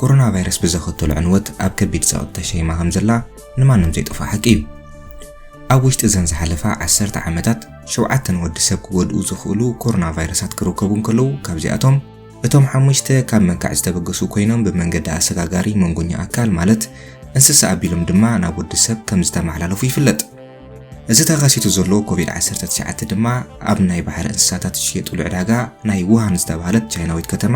ኮሮና ቫይረስ ብዘኸተሎ ዕንወት ኣብ ከቢድ ጸቕጢ ተሸይማ ከም ዘላ ንማንም ዘይጠፍኦ ሓቂ እዩ። ኣብ ውሽጢ እዘን ዝሓለፋ ዓሰርተ ዓመታት ሸውዓተ ንወዲ ሰብ ክጎድኡ ዝኽእሉ ኮሮና ቫይረሳት ክርከቡ እንከለዉ ካብዚኣቶም እቶም ሓሙሽተ ካብ መንካዕ ዝተበገሱ ኮይኖም ብመንገዲ ኣሰጋጋሪ መንጎኛ ኣካል ማለት እንስሳ ኣቢሎም ድማ ናብ ወዲ ሰብ ከም ዝተመሓላለፉ ይፍለጥ። እዚ ተኸሲቱ ዘሎ ኮቪድ-19 ድማ ኣብ ናይ ባሕሪ እንስሳታት ዝሽየጡሉ ዕዳጋ ናይ ውሃን ዝተባህለት ቻይናዊት ከተማ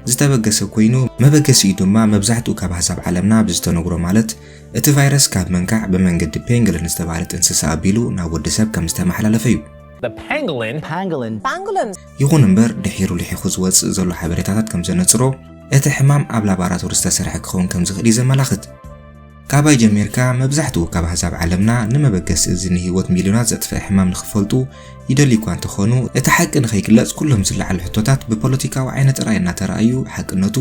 ዝተበገሰ ኮይኑ መበገሲኡ ድማ መብዛሕትኡ ካብ ኣህዛብ ዓለምና ብዝተነግሮ ማለት እቲ ቫይረስ ካብ መንካዕ ብመንገዲ ፔንግልን ዝተባህለት እንስሳ ኣቢሉ ናብ ወዲ ሰብ ከም ዝተመሓላለፈ እዩ። The pangolin Pangolin Pangolin ይኹን እምበር ድሒሩ ልሒኹ ዝወጽእ ዘሎ ሓበሬታታት ከም ዘነጽሮ እቲ ሕማም ኣብ ላባራቶሪ ዝተሰርሐ ክኸውን ከም ዝኽእል እዩ ዘመላኽት። ካባይ ጀሚርካ መብዛሕትኡ ካብ ኣህዛብ ዓለምና ንመበገሲ እዚ ንህይወት ሚልዮናት ዘጥፍእ ሕማም ንኽፈልጡ ይደልዩ እኳ እንተኾኑ እቲ ሓቂ ንኸይግለጽ ኩሎም ዝለዓሉ ሕቶታት ብፖለቲካዊ ዓይነ ጥራይ እናተረኣዩ ሓቅነቱ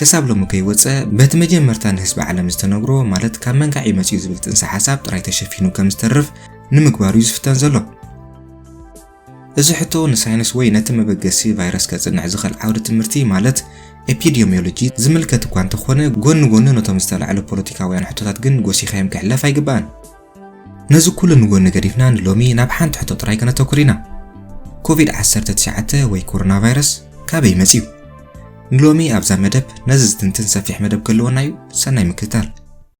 ክሳብ ሎሚ ከይወጸ በቲ መጀመርታ ንህዝቢ ዓለም ዝተነግሮ ማለት ካብ መንካዕ እዩ መጺኡ ዝብል ጥንሰ ሓሳብ ጥራይ ተሸፊኑ ከም ዝተርፍ ንምግባር እዩ ዝፍተን ዘሎ። እዚ ሕቶ ንሳይንስ ወይ ነቲ መበገሲ ቫይረስ ከጽንዕ ዝኽእል ዓውዲ ትምህርቲ ማለት ኤፒዲዮሚዮሎጂ ዝምልከት እኳ እንተኾነ ጎኒ ጎኑ ነቶም ዝተላዕሉ ፖለቲካውያን ሕቶታት ግን ጎሲኻዮም ክሕለፍ ኣይግባእን። ነዚ ኩሉ ንጎኒ ገዲፍና ንሎሚ ናብ ሓንቲ ሕቶ ጥራይ ከነተኩር ኢና። ኮቪድ-19 ወይ ኮሮና ቫይረስ ካበይ መጽዩ? ንሎሚ ኣብዛ መደብ ነዚ ዝትንትን ሰፊሕ መደብ ክህልወና እዩ፣ ሰናይ ምክትታል።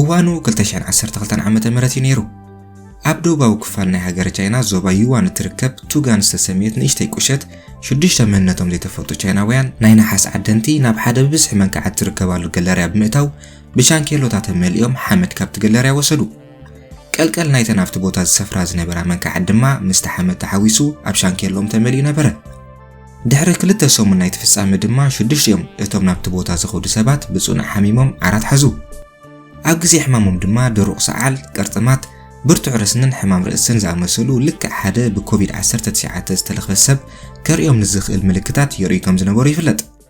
እዋኑ ክልተ ሽሕን ዓሰርተ ክልተን ዓመተ ምህረት እዩ ነይሩ። ኣብ ደቡባዊ ክፋል ናይ ሃገረ ቻይና ዞባ ዩዋን እትርከብ ቱጋን ዝተሰምየት ንእሽተይ ቁሸት፣ ሽዱሽተ መንነቶም ዘይተፈልጡ ቻይናውያን ናይ ነሓስ ዓደንቲ ናብ ሓደ ብብዝሒ መንክዓት ዝርከባሉ ገለርያ ብምእታው ብሻንኬሎታት ኣመሊኦም ሓመድ ካብቲ ገለርያ ወሰዱ። ቀልቀል ናይተን ኣብቲ ቦታ ዝሰፍራ ዝነበራ መንክዓት ድማ ምስቲ ሓመድ ተሓዊሱ ኣብ ሻንኬሎኦም ተመሊኡ ነበረ። ድሕሪ ክልተ ሰሙን ናይቲ ፍጻመ ድማ ሽዱሽቲኦም እቶም ናብቲ ቦታ ዝኸዱ ሰባት ብጽኑዕ ሓሚሞም ዓራት ሓዙ። ኣብ ግዜ ሕማሞም ድማ ድሩቕ ሰዓል፣ ቅርጥማት፣ ብርቱዕ ረስንን ሕማም ርእስን ዝኣመሰሉ ልክዕ ሓደ ብኮቪድ ዓሰርተ ትሽዓተ ዝተለኽፈ ሰብ ከርእዮም ንዝኽእል ምልክታት የርእዩ ከም ዝነበሩ ይፍለጥ።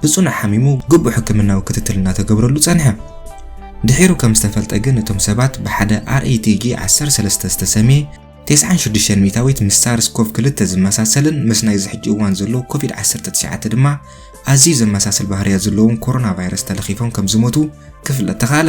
ብጽኑዕ ሓሚሙ ግቡእ ሕክምናዊ ክትትል እናተገብረሉ ጸንሐ። ድሒሩ ከም ዝተፈልጠ ግን እቶም ሰባት ብሓደ RATG ዓሰርተ ሰለስተ ዝተሰምየ ቴስዓን ሽዱሽተን ሚእታዊት ምስ ሳርስ ኮቭ ክልተ ዝመሳሰልን ምስ ናይዚ ሕጂ እዋን ዘሎ ኮቪድ ዓሰርተ ትሽዓተ ድማ ኣዝዩ ዘመሳስል ባህርያት ዘለዎም ኮሮናቫይረስ ተለኺፎም ከም ዝሞቱ ክፍለጥ ተኻእለ።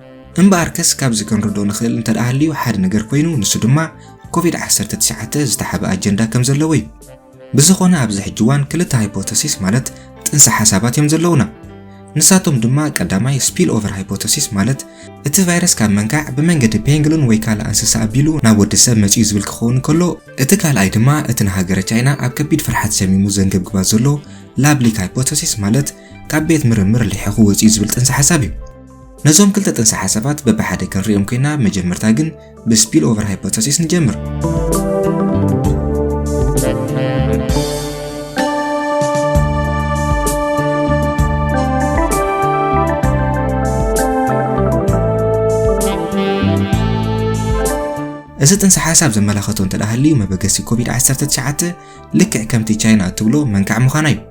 እምበኣርከስ ካብዚ ክንርድኦ ንኽእል እንተደኣ ሃልዩ ሓደ ነገር ኮይኑ ንሱ ድማ ኮቪድ ዓሰርተ ትሽዓተ ዝተሓበ ኣጀንዳ ከም ዘለዎ እዩ። ብዝኾነ ኣብዚ ሕጂ እዋን ክልተ ሃይፖተሲስ ማለት ጥንሰ ሓሳባት እዮም ዘለውና። ንሳቶም ድማ ቀዳማይ ስፒል ኦቨር ሃይፖተሲስ ማለት እቲ ቫይረስ ካብ መንካዕ ብመንገዲ ፔንግሉን ወይ ካልእ እንስሳ ኣቢሉ ናብ ወዲ ሰብ መጺኡ ዝብል ክኸውን ከሎ እቲ ካልኣይ ድማ እቲ ንሃገረ ቻይና ኣብ ከቢድ ፍርሓት ሰሚሙ ዘንገብግባ ዘሎ ላብ ሊክ ሃይፖተሲስ ማለት ካብ ቤት ምርምር ሊሒኹ ወጺኡ ዝብል ጥንሰ ሓሳብ እዩ። ነዞም ክልተ ጥንሰ ሓሳባት በብሓደ ክንሪኦም ኮይና መጀመርታ ግን ብስፒል ኦቨር ሃይፖተሲስ ንጀምር። እዚ ጥንሰ ሓሳብ ዘመላኸቶ እንተደኣ ሃልዩ መበገሲ ኮቪድ-19 ልክዕ ከምቲ ቻይና እትብሎ መንካዕ ምዃና እዩ።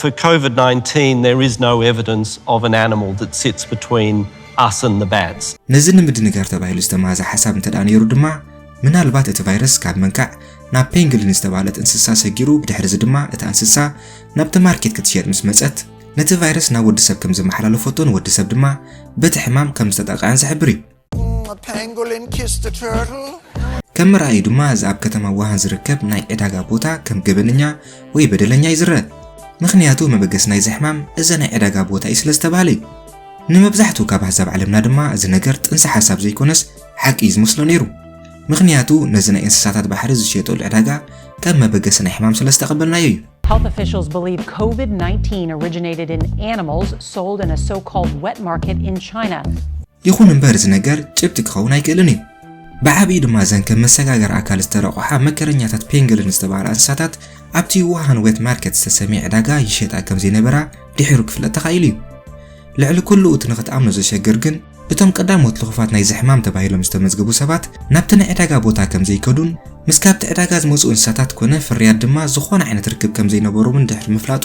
For Covid 19 there is no evidence of an animal that sits between us and the bats. ነዚ ንምድንጋር ተባሂሉ ዝተማህዘ ሓሳብ እንተድኣ ነይሩ ድማ ምናልባት እቲ ቫይረስ ካብ መንካዕ ናብ ፔንግሊን ዝተባህለት እንስሳ ሰጊሩ ብድሕርዚ ድማ እታ እንስሳ ናብቲ ማርኬት ክትሸየጥ ምስ መጸት ነቲ ቫይረስ ናብ ወዲ ሰብ ከም ዘመሓላለፈቶን ወዲ ሰብ ድማ በቲ ሕማም ከም ዝተጠቕዐን ዝሕብር እዩ። ከም መርኣዩ ድማ እዚ ኣብ ከተማ ውሃን ዝርከብ ናይ ዕዳጋ ቦታ ከም ገበነኛ ወይ በደለኛ እዩ ዝረአ ምክንያቱ መበገስ ናይዚ ሕማም እዚ ናይ ዕዳጋ ቦታ እዩ ስለ ዝተባህለ እዩ ንመብዛሕትኡ ካብ ኣህዛብ ዓለምና ድማ እዚ ነገር ጥንሲ ሓሳብ ዘይኮነስ ሓቂ እዩ ዝመስሎ ነይሩ ምክንያቱ ነዚ ናይ እንስሳታት ባሕሪ ዝሸየጠሉ ዕዳጋ ከም መበገሲ ናይ ሕማም ስለ ዝተቐበልናዮ እዩ Health officials believe COVID 19 originated in animals sold in a so called wet market in China. ይኹን እምበር እዚ ነገር ጭብጢ ክኸውን ኣይክእልን እዩ። ብዓብዩ ድማ እዘን ከም መሰጋገሪ ኣካል ዝተረቑሓ መከረኛታት ፔንግልን ዝተባህላ እንስሳታት ኣብቲ ውሃን ዌት ማርኬት ዝተሰምየ ዕዳጋ ይሸጣ ከም ዘይነበራ ድሒሩ ክፍለጥ ተኻኢሉ እዩ። ልዕሊ ኩሉ እቲ ንኽትኣምኖ ዘሸግር ግን እቶም ቀዳሞት ልኹፋት ናይዚ ሕማም ተባሂሎም ዝተመዝገቡ ሰባት ናብቲ ናይ ዕዳጋ ቦታ ከም ዘይከዱን ምስ ካብቲ ዕዳጋ ዝመጹ እንስሳታት ኮነ ፍርያት ድማ ዝኾነ ዓይነት ርክብ ከም ዘይነበሮምን ድሕሪ ምፍላጡ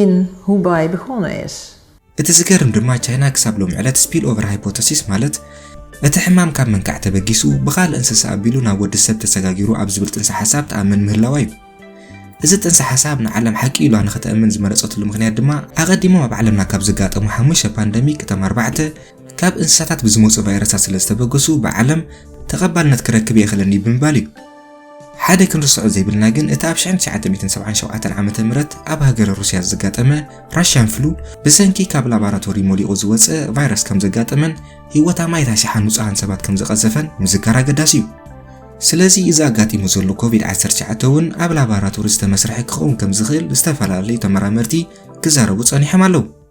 in Hubei begonnen is. እቲ ዝገርም ድማ ቻይና ክሳብ ሎሚ ዕለት ስፒልኦቨር ሃይፖተሲስ ማለት እቲ ሕማም ካብ መንካዕ ተበጊሱ ብኻልእ እንስሳ ኣቢሉ ናብ ወዲ ሰብ ተሰጋጊሩ ኣብ ዝብል ጥንሰ ሓሳብ ትኣምን ምህላዋ እዩ። እዚ ጥንሰ ሓሳብ ንዓለም ሓቂ ኢሏ ንኽተእምን ዝመረጸትሉ ምኽንያት ድማ ኣቐዲሞም ኣብ ዓለምና ካብ ዘጋጠሙ ሓሙሽተ ፓንደሚክ እቶም ኣርባዕተ ካብ እንስሳታት ብዝመጹ ቫይረሳት ስለ ዝተበገሱ ብዓለም ተቐባልነት ክረክብ ኣይኽእልን እዩ ብምባል እዩ። ሓደ ክንርስዖ ዘይብልና ግን እቲ ኣብ 1977 ዓመተ ምህረት ኣብ ሃገረ ሩስያ ዘጋጠመ ራሽያን ፍሉ ብሰንኪ ካብ ላባራቶሪ ሞሊቑ ዝወጸ ቫይረስ ከም ዘጋጠመን ህይወት ኣማኢት ኣሽሓት ንጹሃን ሰባት ከም ዝቐዘፈን ምዝካር ኣገዳሲ እዩ። ስለዚ እዚ ኣጋጢሙ ዘሎ ኮቪድ-19 እውን ኣብ ላባራቶሪ ዝተመስርሐ ክኸውን ከም ዝኽእል ዝተፈላለዩ ተመራመርቲ ክዛረቡ ጸኒሖም ኣለዉ።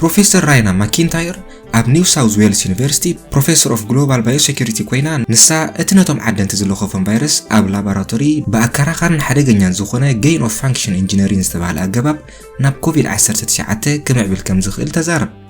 ፕሮፌሰር ራይና ማኪንታየር ኣብ ኒው ሳውዝ ዌልስ ዩኒቨርሲቲ ፕሮፌሰር ኦፍ ግሎባል ባዮሴኪሪቲ ኮይና ንሳ እቲ ነቶም ዓደንቲ ዝለኸፎም ቫይረስ ኣብ ላቦራቶሪ ብኣከራኻርን ሓደገኛን ዝኾነ ገይን ኦፍ ፋንክሽን ኢንጂነሪን ዝተባህለ ኣገባብ ናብ ኮቪድ-19 ክምዕብል ከም ዝኽእል ተዛረብ።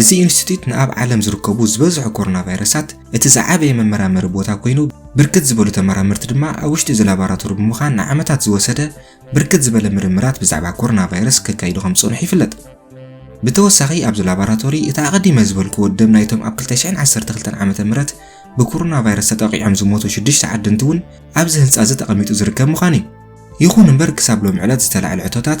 እዚ ኢንስቲትዩት ንኣብ ዓለም ዝርከቡ ዝበዝሑ ኮሮና ቫይረሳት እቲ ዝዓበየ መመራመሪ ቦታ ኮይኑ ብርክት ዝበሉ ተመራመርቲ ድማ ኣብ ውሽጢ እዚ ላቦራቶሪ ብምዃን ንዓመታት ዝወሰደ ብርክት ዝበለ ምርምራት ብዛዕባ ኮሮና ቫይረስ ከካይዱ ከም ዝፀንሑ ይፍለጥ። ብተወሳኺ ኣብዚ ላቦራቶሪ እቲ ኣቐዲመ ዝበልክዎ ደም ናይቶም ኣብ 2012 ዓ ም ብኮሮና ቫይረስ ተጠቒዖም ዝሞቱ ሽዱሽተ ዓድንቲ እውን ኣብዚ ህንፃ እዚ ተቐሚጡ ዝርከብ ምዃኑ እዩ። ይኹን እምበር ክሳብ ሎሚ ዕለት ዝተላዕለ ሕቶታት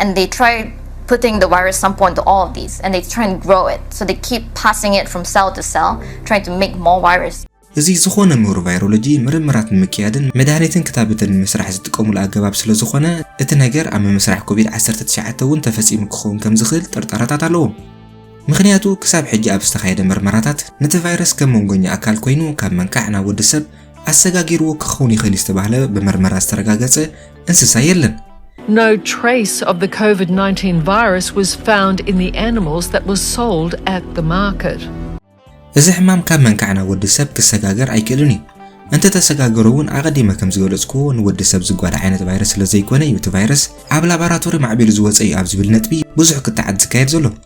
and they try putting the virus sample into all of these and they try and grow it so they keep passing it from cell to cell trying to make more virus እዚ ዝኾነ ምሁር ቫይሮሎጂ ምርምራት ንምክያድን መድሃኒትን ክታበትን ንምስራሕ ዝጥቀሙሉ ኣገባብ ስለዝኾነ እቲ ነገር ኣብ ምምስራሕ ኮቪድ ዓሰርተ ትሽዓተ እውን ተፈጺሙ ክኸውን ከምዝኽእል ጥርጠራታት ኣለዎም። ምኽንያቱ ክሳብ ሕጂ ኣብ ዝተኻየደ ምርመራታት ነቲ ቫይረስ ከም መንጎኛ ኣካል ኮይኑ ካብ መንካዕ ናብ ወዲ ሰብ ኣሰጋጊርዎ ክኸውን ይኽእል እዩ ዝተባህለ ብምርመራ ዝተረጋገጸ እንስሳ የለን። No trace of the COVID-19 virus was found in the animals that were sold at the market. እዚ ሕማም ካብ መንካዕ ናብ ወዲ ሰብ ክሰጋገር ኣይክእልን እዩ። እንተ ተሰጋገሩ እውን ኣቐዲመ ከም ዝገለጽኩዎ ንወዲ ሰብ ዝጓዳ ዓይነት ቫይረስ ስለ ዘይኮነ እዩ እቲ ቫይረስ ኣብ ላቦራቶሪ ማዕቢሉ ዝወጸ እዩ ኣብ ዝብል ነጥቢ ብዙሕ ክትዓት ዝካየድ ዘሎ።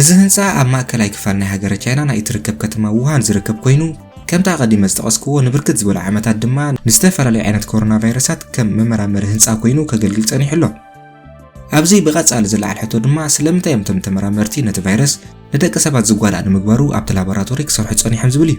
እዚ ህንጻ ኣብ ማእከላይ ክፋል ናይ ሃገረ ቻይና ናይ እትርከብ ከተማ ዉሃን ዝርከብ ኮይኑ፣ ከምቲ ኣቐዲመ ዝጠቐስክዎ ንብርክት ዝበሉ ዓመታት ድማ ንዝተፈላለዩ ዓይነት ኮሮናቫይረሳት ከም መመራመሪ ህንጻ ኮይኑ ከገልግል ጸኒሑ ኣሎ። ኣብዚ ብቐጻሊ ዝለዓል ሕቶ ድማ ስለምንታይ እዮም እቶም ተመራመርቲ ነቲ ቫይረስ ንደቂ ሰባት ዝጓዳእ ንምግባሩ ኣብቲ ላቦራቶሪ ክሰርሑ ጸኒሖም ዝብል እዩ።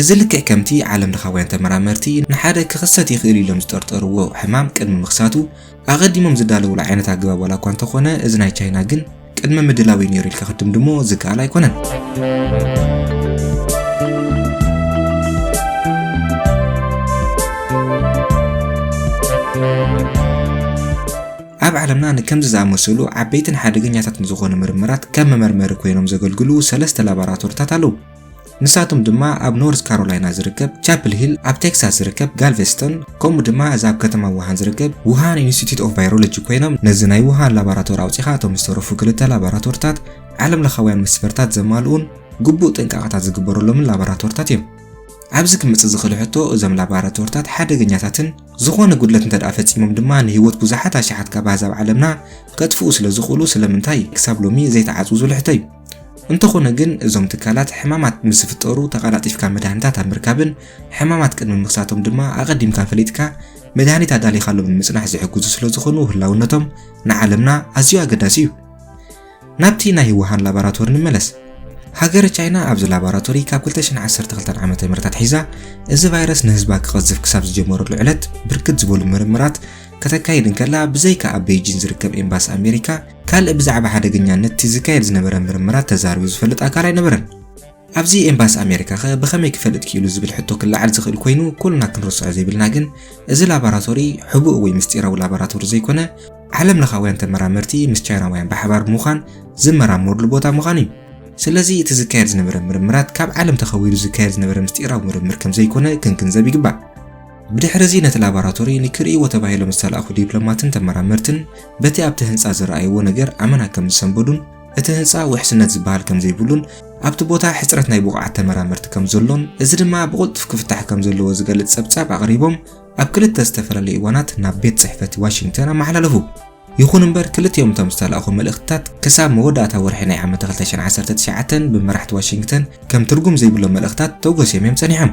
እዚ ልክዕ ከምቲ ዓለምለኻውያን ተመራመርቲ ንሓደ ክኽሰት ይኽእል ኢሎም ዝጠርጠርዎ ሕማም ቅድሚ ምኽሳቱ ኣቐዲሞም ዝዳለውሉ ዓይነት ኣገባብ ዋላ እኳ እንተኾነ እዚ ናይ ቻይና ግን ቅድመ ምድላው እዩ ነይሩ ኢልካ ክትድምድሞ ዝከኣል ኣይኮነን። ኣብ ዓለምና ንከምዚ ዝኣመሰሉ ዓበይትን ሓደገኛታትን ዝኾኑ ምርምራት ከም መመርመሪ ኮይኖም ዘገልግሉ ሰለስተ ላቦራቶሪታት ኣለዉ። ንሳቶም ድማ ኣብ ኖርዝ ካሮላይና ዝርከብ ቻፕል ሂል፣ ኣብ ቴክሳስ ዝርከብ ጋልቨስተን፣ ከምኡ ድማ እዚ ኣብ ከተማ ውሃን ዝርከብ ውሃን ኢንስቲትዩት ኦፍ ቫይሮሎጂ ኮይኖም ነዚ ናይ ውሃን ላቦራቶሪ ኣውጺኻ እቶም ዝተረፉ ክልተ ላቦራቶሪታት ዓለምለኻውያን መስፈርታት ዘማልኡን ግቡእ ጥንቃቐታት ዝግበረሎምን ላቦራቶሪታት እዮም። ኣብዚ ክመጽእ ዝኽእል ሕቶ እዞም ላቦራቶሪታት ሓደገኛታትን ዝኾነ ጉድለት እንተደኣ ፈጺሞም ድማ ንህይወት ብዙሓት ኣሽሓት ካብ ኣህዛብ ዓለምና ከጥፍኡ ስለዝኽእሉ ስለምንታይ ክሳብ ሎሚ ዘይተዓጽዉ ዝብል ሕቶ እዩ። እንተኾነ ግን እዞም ትካላት ሕማማት ምስ ዝፍጠሩ ተቐላጢፍካ መድሃኒታት ኣብ ምርካብን ሕማማት ቅድሚ ምኽሳቶም ድማ ኣቐዲምካ ፈሊጥካ መድሃኒት ኣዳሊኻሎም ንምጽናሕ ዝሕግዙ ስለ ዝኾኑ ህላውነቶም ንዓለምና ኣዝዩ ኣገዳሲ እዩ። ናብቲ ናይ ውሃን ላቦራቶሪ ንመለስ። ሃገረ ቻይና ኣብዚ ላቦራቶሪ ካብ 2012 ዓ ም ኣትሒዛ እዚ ቫይረስ ንህዝባ ክቐዝፍ ክሳብ ዝጀመረሉ ዕለት ብርክት ዝበሉ ምርምራት ከተካይድ እንከላ ብዘይካ ኣብ ቤይጂን ዝርከብ ኤምባሲ ኣሜሪካ ካልእ ብዛዕባ ሓደገኛነት እቲ ዝካየድ ዝነበረ ምርምራት ተዛሪቡ ዝፈልጥ ኣካል ኣይነበረን። ኣብዚ ኤምባሲ ኣሜሪካ ከ ብኸመይ ክፈልጥ ክኢሉ ዝብል ሕቶ ክለዓል ዝኽእል ኮይኑ ኩልና ክንርስዖ ዘይብልና ግን እዚ ላቦራቶሪ ሕቡእ ወይ ምስጢራዊ ላቦራቶሪ ዘይኮነ ዓለም ለኻውያን ተመራመርቲ ምስ ቻይናውያን ብሓባር ብምዃን ዝመራመሩሉ ቦታ ምዃኑ እዩ። ስለዚ እቲ ዝካየድ ዝነበረ ምርምራት ካብ ዓለም ተኸዊሉ ዝካየድ ዝነበረ ምስጢራዊ ምርምር ከም ዘይኮነ ክንግንዘብ ይግባእ። ብድሕርዚ ነቲ ላባራቶሪ ንክርእይዎ ተባሂሎም ዝተላእኩ ዲፕሎማትን ተመራመርትን በቲ ኣብቲ ህንጻ ዝረኣይዎ ነገር ኣመና ከም ዝሰንበዱን እቲ ህንጻ ውሕስነት ዝበሃል ከም ዘይብሉን ኣብቲ ቦታ ሕጽረት ናይ ብቑዓት ተመራመርቲ ከም ዘሎን እዚ ድማ ብቕልጡፍ ክፍታሕ ከም ዘለዎ ዝገልጽ ጸብጻብ ኣቕሪቦም ኣብ ክልተ ዝተፈላለዩ እዋናት ናብ ቤት ጽሕፈት ዋሽንግተን ኣመሓላለፉ። ይኹን እምበር ክልቲኦም እቶም ዝተላእኹ መልእኽትታት ክሳብ መወዳእታ ወርሒ ናይ ዓመት 2019 ብመራሕቲ ዋሽንግተን ከም ትርጉም ዘይብሎም መልእኽታት ተጎስዮም እዮም ጸኒሖም።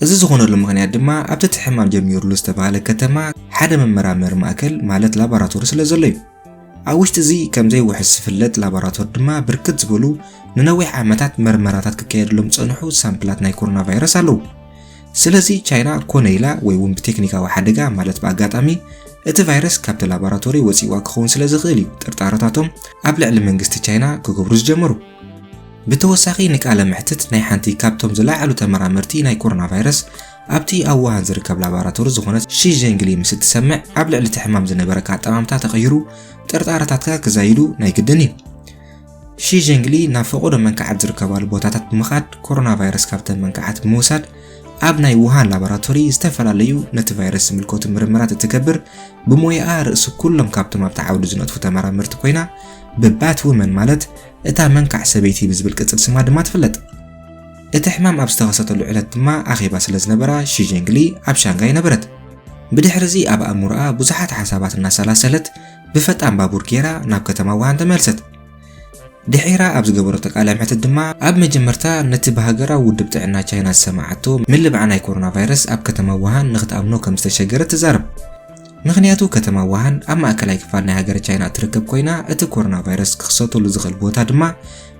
እዚ ዝኾነሉ ምኽንያት ድማ ኣብቲ እቲ ሕማም ጀሚሩሉ ዝተባህለ ከተማ ሓደ መመራመሪ ማእከል ማለት ላቦራቶሪ ስለ ዘሎ እዩ። ኣብ ውሽጢ እዚ ከም ዘይውሕስ ዝፍለጥ ላቦራቶሪ ድማ ብርክት ዝበሉ ንነዊሕ ዓመታት መርመራታት ክካየድሎም ዝጸንሑ ሳምፕላት ናይ ኮሮና ቫይረስ ኣለዉ። ስለዚ ቻይና ኮነ ኢላ ወይ እውን ብቴክኒካዊ ሓደጋ ማለት ብኣጋጣሚ እቲ ቫይረስ ካብቲ ላቦራቶሪ ወጺእዋ ክኸውን ስለ ዝኽእል እዩ ጥርጣረታቶም ኣብ ልዕሊ መንግስቲ ቻይና ክገብሩ ዝጀመሩ። ብተወሳኺ ንቃለ መሕትት ናይ ሓንቲ ካብቶም ዝለዓሉ ተመራመርቲ ናይ ኮሮና ቫይረስ ኣብቲ ኣብ ውሃን ዝርከብ ላቦራቶሪ ዝኾነት ሺ ዠንግሊ ምስ እትሰምዕ ኣብ ልዕሊ እቲ ሕማም ዝነበረካ ኣጠማምታ ተቐይሩ ጥርጣረታትካ ክዛይዱ ናይ ግድን እዩ። ሺ ዠንግሊ ናብ ፈቐዶ መንካዓት ዝርከባሉ ቦታታት ብምኻድ ኮሮና ቫይረስ ካብተን መንካዓት ብምውሳድ ኣብ ናይ ውሃን ላቦራቶሪ ዝተፈላለዩ ነቲ ቫይረስ ዝምልከቱ ምርምራት እትገብር ብሞያኣ ርእሲ ኩሎም ካብቶም ኣብቲ ዓውዲ ዝነጥፉ ተመራመርቲ ኮይና ብባት ውመን ማለት እታ መንካዕ ሰበይቲ ብዝብል ቅጽል ስማ ድማ ትፍለጥ። እቲ ሕማም ኣብ ዝተኸሰተሉ ዕለት ድማ ኣኼባ ስለ ዝነበራ ሺ ዠንግሊ ኣብ ሻንጋይ ነበረት። ብድሕርዚ ኣብ ኣእምሮኣ ብዙሓት ሓሳባት እናሰላሰለት ብፈጣን ባቡር ገይራ ናብ ከተማ ውሃን ተመልሰት። ድሒራ ኣብ ዝገበረቶ ቃለ መሕትት ድማ ኣብ መጀመርታ ነቲ ብሃገራዊ ውድብ ጥዕና ቻይና ዝሰማዓቶ ምልባዕ ናይ ኮሮና ቫይረስ ኣብ ከተማ ውሃን ንኽትኣምኖ ከም ዝተሸገረት ትዛረብ። ምኽንያቱ ከተማ ውሃን ኣብ ማእከላይ ክፋል ናይ ሃገረ ቻይና እትርከብ ኮይና፣ እቲ ኮሮናቫይረስ ክኽሰተሉ ዝኽእል ቦታ ድማ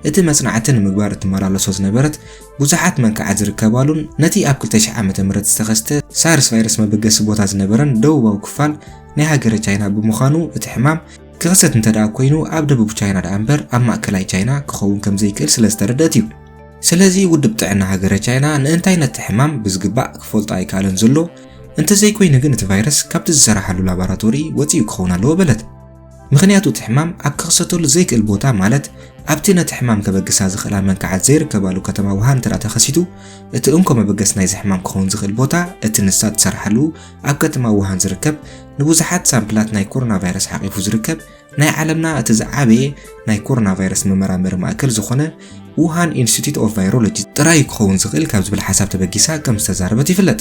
እቲ መጽናዕቲ ንምግባር እትመላለሶ ዝነበረት ብዙሓት መንክዓት ዝርከባሉን ነቲ ኣብ ክልተ ሽሕ ዓመተ ምህረት ዝተኸስተ ሳርስ ቫይረስ መበገሲ ቦታ ዝነበረን ደቡባዊ ክፋል ናይ ሃገረ ቻይና ብምዃኑ እቲ ሕማም ክኽሰት እንተደኣ ኮይኑ ኣብ ደቡብ ቻይና ደኣ እምበር ኣብ ማእከላይ ቻይና ክኸውን ከም ዘይክእል ስለ ዝተረደት እዩ። ስለዚ ውድብ ጥዕና ሃገረ ቻይና ንእንታይ ነቲ ሕማም ብዝግባእ ክፈልጦ ኣይከኣለን ዘሎ፣ እንተዘይኮይኑ ግን እቲ ቫይረስ ካብቲ ዝሰራሓሉ ላቦራቶሪ ወጺኡ ክኸውን ኣለዎ በለት። ምኽንያቱ እቲ ሕማም ኣብ ክኽሰተሉ ዘይክእል ቦታ ማለት ኣብቲ ነቲ ሕማም ከበግሳ ዝኽእላ መንካዓት ዘይርከባሉ ከተማ ውሃን እንተደኣ ተኸሲቱ እቲ እንኮ መበገሲ ናይዚ ሕማም ክኸውን ዝኽእል ቦታ እቲ ንሳ እትሰርሓሉ ኣብ ከተማ ውሃን ዝርከብ ንብዙሓት ሳምፕላት ናይ ኮሮና ቫይረስ ሓቂፉ ዝርከብ ናይ ዓለምና እቲ ዝዓበየ ናይ ኮሮና ቫይረስ መመራመሪ ማእከል ዝኾነ ውሃን ኢንስቲትዩት ኦፍ ቫይሮሎጂ ጥራይ ክኸውን ዝኽእል ካብ ዝብል ሓሳብ ተበጊሳ ከም ዝተዛረበት ይፍለጥ።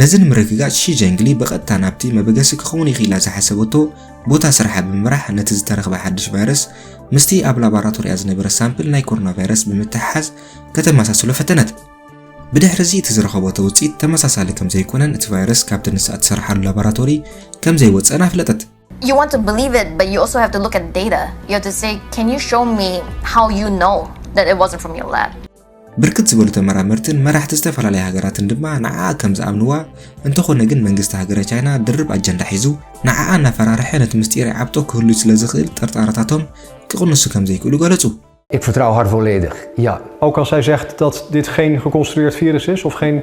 ነዚ ንምርግጋጽ ሺ ጀንግሊ ብቐጥታ ናብቲ መበገሲ ክኸውን ይኽእል ኢላ ዝሓሰበቶ ቦታ ስርሓ ብምምራሕ ነቲ ዝተረኽበ ሓድሽ ቫይረስ ምስቲ ኣብ ላቦራቶሪኣ ዝነበረ ሳምፕል ናይ ኮሮና ቫይረስ ብምትሕሓዝ ከተመሳስሎ ፈተነት። ብድሕሪ እዚ እቲ ዝረኸቦቶ ውጽኢት ተመሳሳሊ ከም ዘይኮነን እቲ ቫይረስ ካብቲ ንሳ እትሰርሓሉ ላቦራቶሪ ከም ዘይወጸን ኣፍለጠት። you want to believe it, but you also have to look at data. You have to say, can you show me how you know that it wasn't from your lab? ብርክት ዝበሉ ተመራመርትን መራሕቲ ዝተፈላለያ ሃገራትን ድማ ንዓኣ ከም ዝኣምንዋ፣ እንተኾነ ግን መንግስቲ ሃገረ ቻይና ድርብ ኣጀንዳ ሒዙ ንዓኣ እናፈራርሐ ነቲ ምስጢር ይዓብጦ ክህሉ ስለ ዝኽእል ጥርጣረታቶም ክቕንሱ ከም ዘይክእሉ ገለጹ። Ik vertrouw haar volledig, ja. Ook als zij zegt dat dit geen geconstrueerd virus is of geen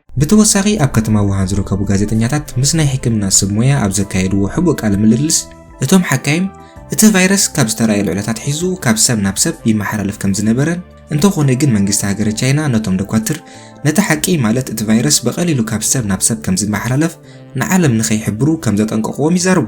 ብተወሳኺ ኣብ ከተማ ዉሃን ዝርከቡ ጋዜጠኛታት ምስ ናይ ሕክምና ሰብ ሞያ ኣብ ዘካየድዎ ሕቡእ ቃለ ምልልስ እቶም ሓካይም እቲ ቫይረስ ካብ ዝተራእየሉ ዕለት ኣትሒዙ ካብ ሰብ ናብ ሰብ ይመሓላለፍ ከም ዝነበረን እንተኾነ ግን መንግስቲ ሃገረ ቻይና ነቶም ደኳትር ነቲ ሓቂ ማለት እቲ ቫይረስ ብቐሊሉ ካብ ሰብ ናብ ሰብ ከም ዝመሓላለፍ ንዓለም ንከይሕብሩ ከም ዘጠንቀቕዎም ይዛረቡ።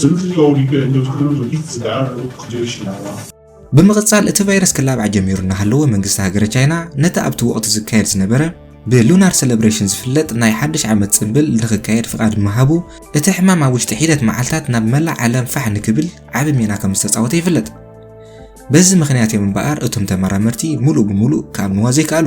ስምቲ ተወሊዱ ዕድመ ዝኾነ ወዲ ትጽጋዕ ርሑቕ ክድዮ ይሽላዋ። ብምቕጻል እቲ ቫይረስ ክላባዕ ጀሚሩ እናሃለወ መንግስቲ ሃገረ ቻይና ነቲ ኣብቲ ወቕቲ ዝካየድ ዝነበረ ብ Lunar Celebration ዝፍለጥ ናይ ሓድሽ ዓመት ጽምብል ንኽካየድ ፍቓድ ምሃቡ እቲ ሕማም ኣብ ውሽጢ ሒደት መዓልታት ናብ መላእ ዓለም ፋሕ ንክብል ዓቢ ሜላ ከም ዝተጻወተ ይፍለጥ። በዚ ምኽንያት እዮም እምበኣር እቶም ተመራመርቲ ምሉእ ብምሉእ ክኣምንዋ ዘይከኣሉ።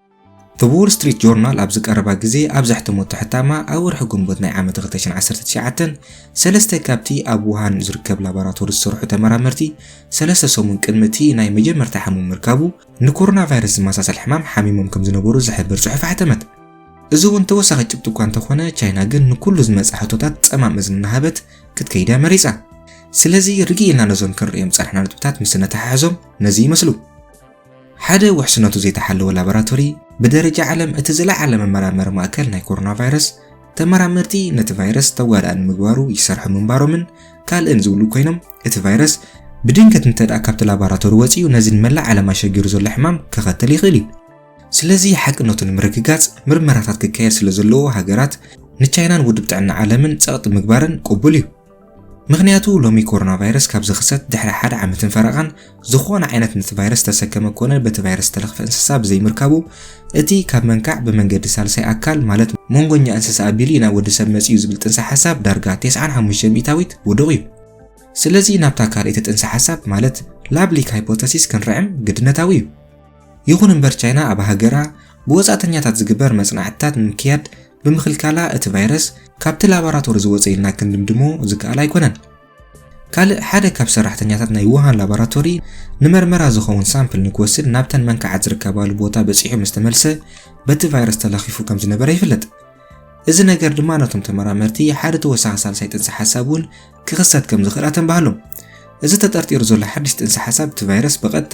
እብ ዎል ስትሪት ጆርናል ኣብ ዝቀረባ ግዜ ኣብ ዘሕተመቶ ሕታማ ኣብ ወርሒ ግንቦት ናይ ዓመት ክልተ ሽሕን ዓሰርተ ትሽዓተን ሰለስተ ካብቲ ኣብ ውሃን ዝርከብ ላቦራቶሪ ዝሰርሑ ተመራመርቲ ሰለስተ ሰሙን ቅድሚ እቲ ናይ መጀመርታ ሕሙም ምርካቡ ንኮሮና ቫይረስ ዝመሳሰል ሕማም ሓሚሞም ከም ዝነበሩ ዝሕብር ጽሑፍ ኣሕተመት። እዚ እውን ተወሳኺ ጭብጢ እኳ እንተኾነ ቻይና ግን ንኩሉ ዝመጽእ ሕቶታት ጸማም እዝኒ እናሃበት ክትከይድ እያ መሪጻ። ስለዚ ርግእ ኢልና ነዞም ክንርእዮም ዝጸናሕና ነጥብታት ምስ እነተሓሕዞም ነዚ ይመስሉ። ሓደ ውሕስነቱ ዘይተሓለወ ላቦራቶሪ ብደረጃ ዓለም እቲ ዝለዓለ መመራመሪ ማእከል ናይ ኮሮና ቫይረስ ተመራመርቲ ነቲ ቫይረስ ተጓዳእ ንምግባሩ ይሰርሑ ምንባሮምን ካልእን ዝብሉ ኮይኖም እቲ ቫይረስ ብድንገት እንተደኣ ካብቲ ላቦራቶሪ ወጺኡ ነዚ ንመላእ ዓለም ኣሸጊሩ ዘሎ ሕማም ከኸትል ይኽእል እዩ። ስለዚ ሓቅነቱ ንምርግጋጽ ምርመራታት ክካየድ ስለዘለዎ ሃገራት ንቻይናን ውድብ ጥዕና ዓለምን ጸቕጢ ምግባረን ቅቡል እዩ። ምኽንያቱ ሎሚ ኮሮና ቫይረስ ካብ ዝኽሰት ድሕሪ ሓደ ዓመትን ፈረቓን ዝኾነ ዓይነት ነቲ ቫይረስ ዝተሰከመ ኮነ በቲ ቫይረስ ዝተለኽፈ እንስሳ ብዘይምርካቡ እቲ ካብ መንካዕ ብመንገዲ ሳልሳይ ኣካል ማለት መንጎኛ እንስሳ ኣቢሉ እዩ ናብ ወዲ ሰብ መጺኡ ዝብል ጥንሰ ሓሳብ ዳርጋ 95 ሚእታዊት ውዱቕ እዩ። ስለዚ ናብታ ካልኣይቲ ጥንሰ ሓሳብ ማለት ላብሊክ ሃይፖተሲስ ክንርዕም ግድነታዊ እዩ። ይኹን እምበር ቻይና ኣብ ሃገራ ብወጻእተኛታት ዝግበር መጽናዕትታት ንምክያድ ብምኽልካላ እቲ ቫይረስ ካብቲ ላቦራቶሪ ዝወጸ ኢልና ክንድምድሞ ዝከኣል ኣይኮነን። ካልእ ሓደ ካብ ሰራሕተኛታት ናይ ውሃን ላቦራቶሪ ንመርመራ ዝኸውን ሳምፕል ንክወስድ ናብተን መንካዓት ዝርከባሉ ቦታ በጺሑ ምስ ተመልሰ በቲ ቫይረስ ተለኺፉ ከም ዝነበረ ይፍለጥ። እዚ ነገር ድማ ነቶም ተመራመርቲ ሓደ ተወሳኺ ሳልሳይ ጥንሲ ሓሳብ እውን ክኽሰት ከም ዝኽእል ኣተንባሃሎም። እዚ ተጠርጢሩ ዘሎ ሓድሽ ጥንሲ ሓሳብ እቲ ቫይረስ ብቐጥታ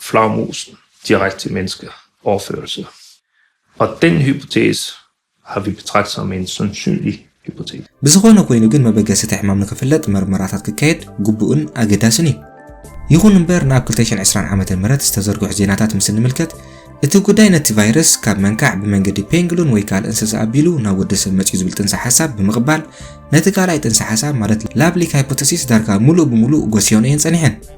flagermusen direkte til menneske overførelse og den hypotese har vi betragtet som en sandsynlig hypotese. ብዝኾነ ኮይኑ ግን መበገሲ እቲ ሕማም ንክፍለጥ መርመራታት ክካየድ ግቡእን ኣገዳስን እዩ። ይኹን እምበር ንኣብ ክልተ ሽሕን ዕስራን ዓመተ ምህረት ዝተዘርግሑ ዜናታት ምስ እንምልከት እቲ ጉዳይ ነቲ ቫይረስ ካብ መንካዕ ብመንገዲ ፔንግሉን ወይ ካልእ እንስሳ ኣቢሉ ናብ ወዲ ሰብ መፅዩ ዝብል ጥንሰ ሓሳብ ብምቕባል ነቲ ካልኣይ ጥንሰ ሓሳብ ማለት ላፕሊክ ሃይፖተሲስ ዳርጋ ሙሉእ ብሙሉእ ጎስዮንኦ እየን ፀኒሐን።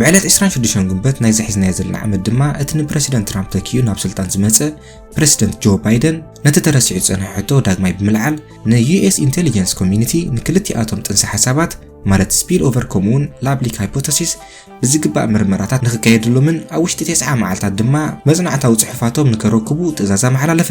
ብዕለት ዕስራን ሽዱሽተን ግንቦት ናይዚ ሒዝናዮ ዘለና ዓመት ድማ እቲ ንፕረሲደንት ትራምፕ ተኪኡ ናብ ስልጣን ዝመጸ ፕረሲደንት ጆ ባይደን ነቲ ተረሲዑ ዝጸንሐ ሕቶ ዳግማይ ብምልዓል ንዩኤስ ኢንተሊጀንስ ኮሚዩኒቲ ንክልቲኣቶም ጥንሰ ሓሳባት ማለት ስፒል ኦቨር ከምኡውን ላብሊክ ሃይፖተሲስ ብዝግባእ ምርመራታት ንክካየድሎምን ኣብ ውሽጢ ቴስዓ መዓልታት ድማ መጽናዕታዊ ጽሑፋቶም ንከረክቡ ትእዛዝ ኣመሓላለፈ።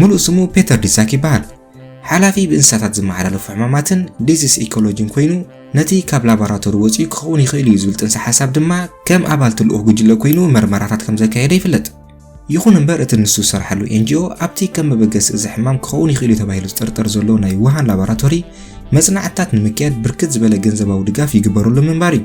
ምሉእ ስሙ ፔተር ዲሳክ ይበሃል። ሓላፊ ብእንስሳታት ዝመሓላለፉ ሕማማትን ዲዚስ ኢኮሎጂን ኮይኑ ነቲ ካብ ላቦራቶሪ ወጺኡ ክኸውን ይኽእል እዩ ዝብል ጥንሰ ሓሳብ ድማ ከም ኣባልቲ ልኡኽ ጉጅለ ኮይኑ መርመራታት ከም ዘካየደ ይፍለጥ። ይኹን እምበር እቲ ንሱ ዝሰርሓሉ ኤንጂኦ ኣብቲ ከም መበገሲ እዚ ሕማም ክኸውን ይኽእል እዩ ተባሂሉ ዝጥርጠር ዘሎ ናይ ውሃን ላቦራቶሪ መጽናዕትታት ንምክያድ ብርክት ዝበለ ገንዘባዊ ድጋፍ ይግበረሉ ምንባር እዩ።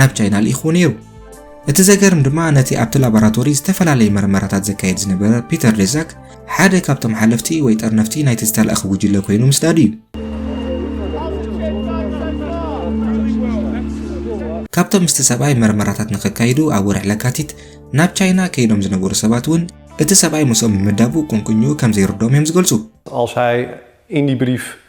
ናብ ቻይና ልኢኽዎ ነይሩ። እቲ ዘገርም ድማ ነቲ ኣብቲ ላቦራቶሪ ዝተፈላለየ መርመራታት ዘካየድ ዝነበረ ፒተር ዴዛክ ሓደ ካብቶም ሓለፍቲ ወይ ጠርነፍቲ ናይቲ ዝተላእኽ ጉጅለ ኮይኑ ምስዳዱ እዩ። ካብቶም ምስቲ ሰብኣይ መርመራታት ንኸካይዱ ኣብ ወርሒ ለካቲት ናብ ቻይና ከይዶም ዝነበሩ ሰባት እውን እቲ ሰብኣይ ምስኦም ምምዳቡ ቁንቁኝኡ ከም ዘይርድኦም እዮም ዝገልጹ። Als hij in die brief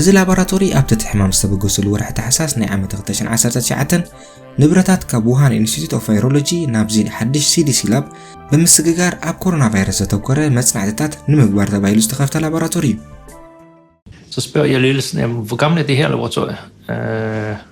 እዚ ላቦራቶሪ ኣብቲ እቲ ሕማም ዝተበገሱሉ ወርሒ ታሕሳስ ናይ ዓመት 2019 ንብረታት ካብ ውሃን ኢንስቲትዩት ኦፍ ቫይሮሎጂ ናብዚ ሓድሽ ሲዲሲ ላብ ብምስግጋር ኣብ ኮሮና ቫይረስ ዘተኮረ መጽናዕትታት ንምግባር ተባሂሉ ዝተኸፍተ ላቦራቶሪ እዩ። Så spørger jeg ledelsen, jamen, hvor gammel er det her laboratorium? Øh,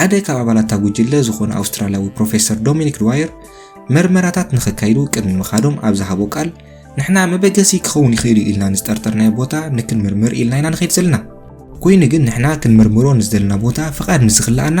ሓደ ካብ ኣባላታ ጉጅለ ዝኾነ ኣውስትራልያዊ ፕሮፌሰር ዶሚኒክ ድዋየር መርመራታት ንክካይዱ ቅድሚ ምኻዶም ኣብ ዝሃቦ ቃል ንሕና መበገሲ ክኸውን ይኽእል እዩ ኢልና ንዝጠርጠርናዮ ቦታ ንክንምርምር ኢልና ኢና ንኸይድ ዘለና ኮይኑ ግን ንሕና ክንምርምሮ ንዝደለና ቦታ ፍቓድ ምስ ዝኽልኣና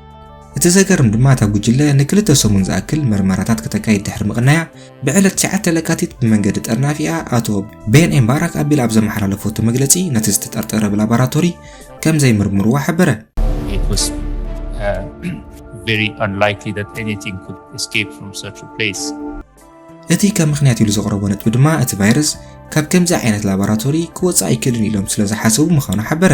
እቲ ዘገርም ድማ እታ ጉጅለ ንክልተ ሰሙን ዝኣክል መርመራታት ከተካይድ ድሕሪ ምቕናያ ብዕለት 9 ለካቲት ብመንገዲ ጠርናፊኣ ኣቶ ቤን ኤም ባራክ ኣቢላ ኣብ ዘመሓላለፈቶ መግለጺ ነቲ ዝተጠርጠረ ብላቦራቶሪ ከም ዘይምርምርዋ ሓበረ። very unlikely that anything could escape from such a place. እቲ ከም ምክንያት ኢሉ ዘቕረቦ ነጥቢ ድማ እቲ ቫይረስ ካብ ከምዚ ዓይነት ላቦራቶሪ ክወፅእ ኣይክእልን ኢሎም ስለ ዝሓሰቡ ምዃኑ ሓበረ።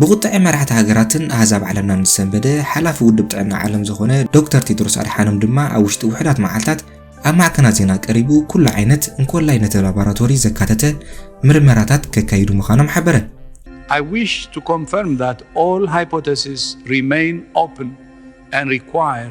ብቑጥዐ መራሕቲ ሃገራትን ኣህዛብ ዓለምናን ዝሰንበደ ሓላፊ ውድብ ጥዕና ዓለም ዝኾነ ዶክተር ቴድሮስ ኣድሓኖም ድማ ኣብ ውሽጢ ውሑዳት መዓልታት ኣብ ማዕከናት ዜና ቀሪቡ ኩሉ ዓይነት እንኮላይ ነቲ ላቦራቶሪ ዘካተተ ምርመራታት ከካይዱ ምዃኖም ሓበረ። I wish to confirm that all hypotheses remain open and require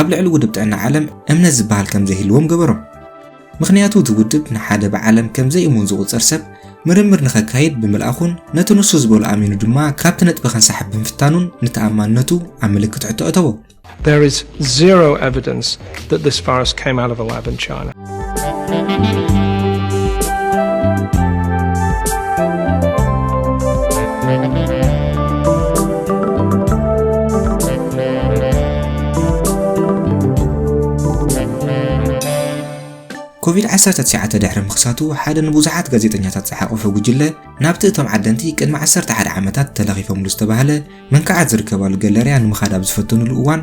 ኣብ ልዕሊ ውድብ ጥዕና ዓለም እምነት ዝበሃል ከም ዘይህልዎም ገበሮም። ምኽንያቱ እቲ ውድብ ንሓደ ብዓለም ከም ዘይእሙን ዝቑጸር ሰብ ምርምር ንኸካይድ ብምልኣኹን ነቲ ንሱ ዝበሎ ኣሚኑ ድማ ካብቲ ነጥቢ ከንሳሕብ ብምፍታኑን ንተኣማንነቱ ኣብ ምልክት ሕቶ ኣእተዎ። There is zero evidence that this virus came out of a lab in China. ኮቪድ ዓሰርተ ትሽዓተ ድሕሪ ምኽሳቱ ሓደ ንብዙሓት ጋዜጠኛታት ዝሓቖፈ ጉጅለ ናብቲ እቶም ዓደንቲ ቅድሚ ዓሰርተ ሓደ ዓመታት ተለኺፎምሉ ዝተባህለ መንክዓት ዝርከባሉ ገለርያ ንምኻድ ኣብ ዝፈተኑሉ እዋን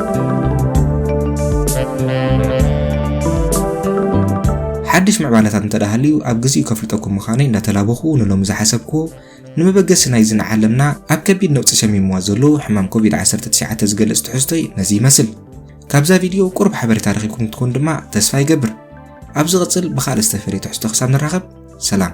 ሓድሽ ምዕባለታት እንተ ሃልዩ ኣብ ግዜኡ ከፍልጠኩም ምዃነይ እንዳተላበኹ ንሎሚ ዝሓሰብክዎ ንመበገሲ ናይዚ ንዓለምና ኣብ ከቢድ ነውጺ ሸሚምዋ ዘሎ ሕማም ኮቪድ-19 ዝገልጽ ትሕዝቶይ ነዚ ይመስል። ካብዛ ቪድዮ ቁሩብ ሓበሬታ ረኺብኩም ክትኮኑ ድማ ተስፋ ይገብር። ኣብ ዝቕጽል ብኻልእ ዝተፈልየ ትሕዝቶ ክሳብ ንራኸብ ሰላም።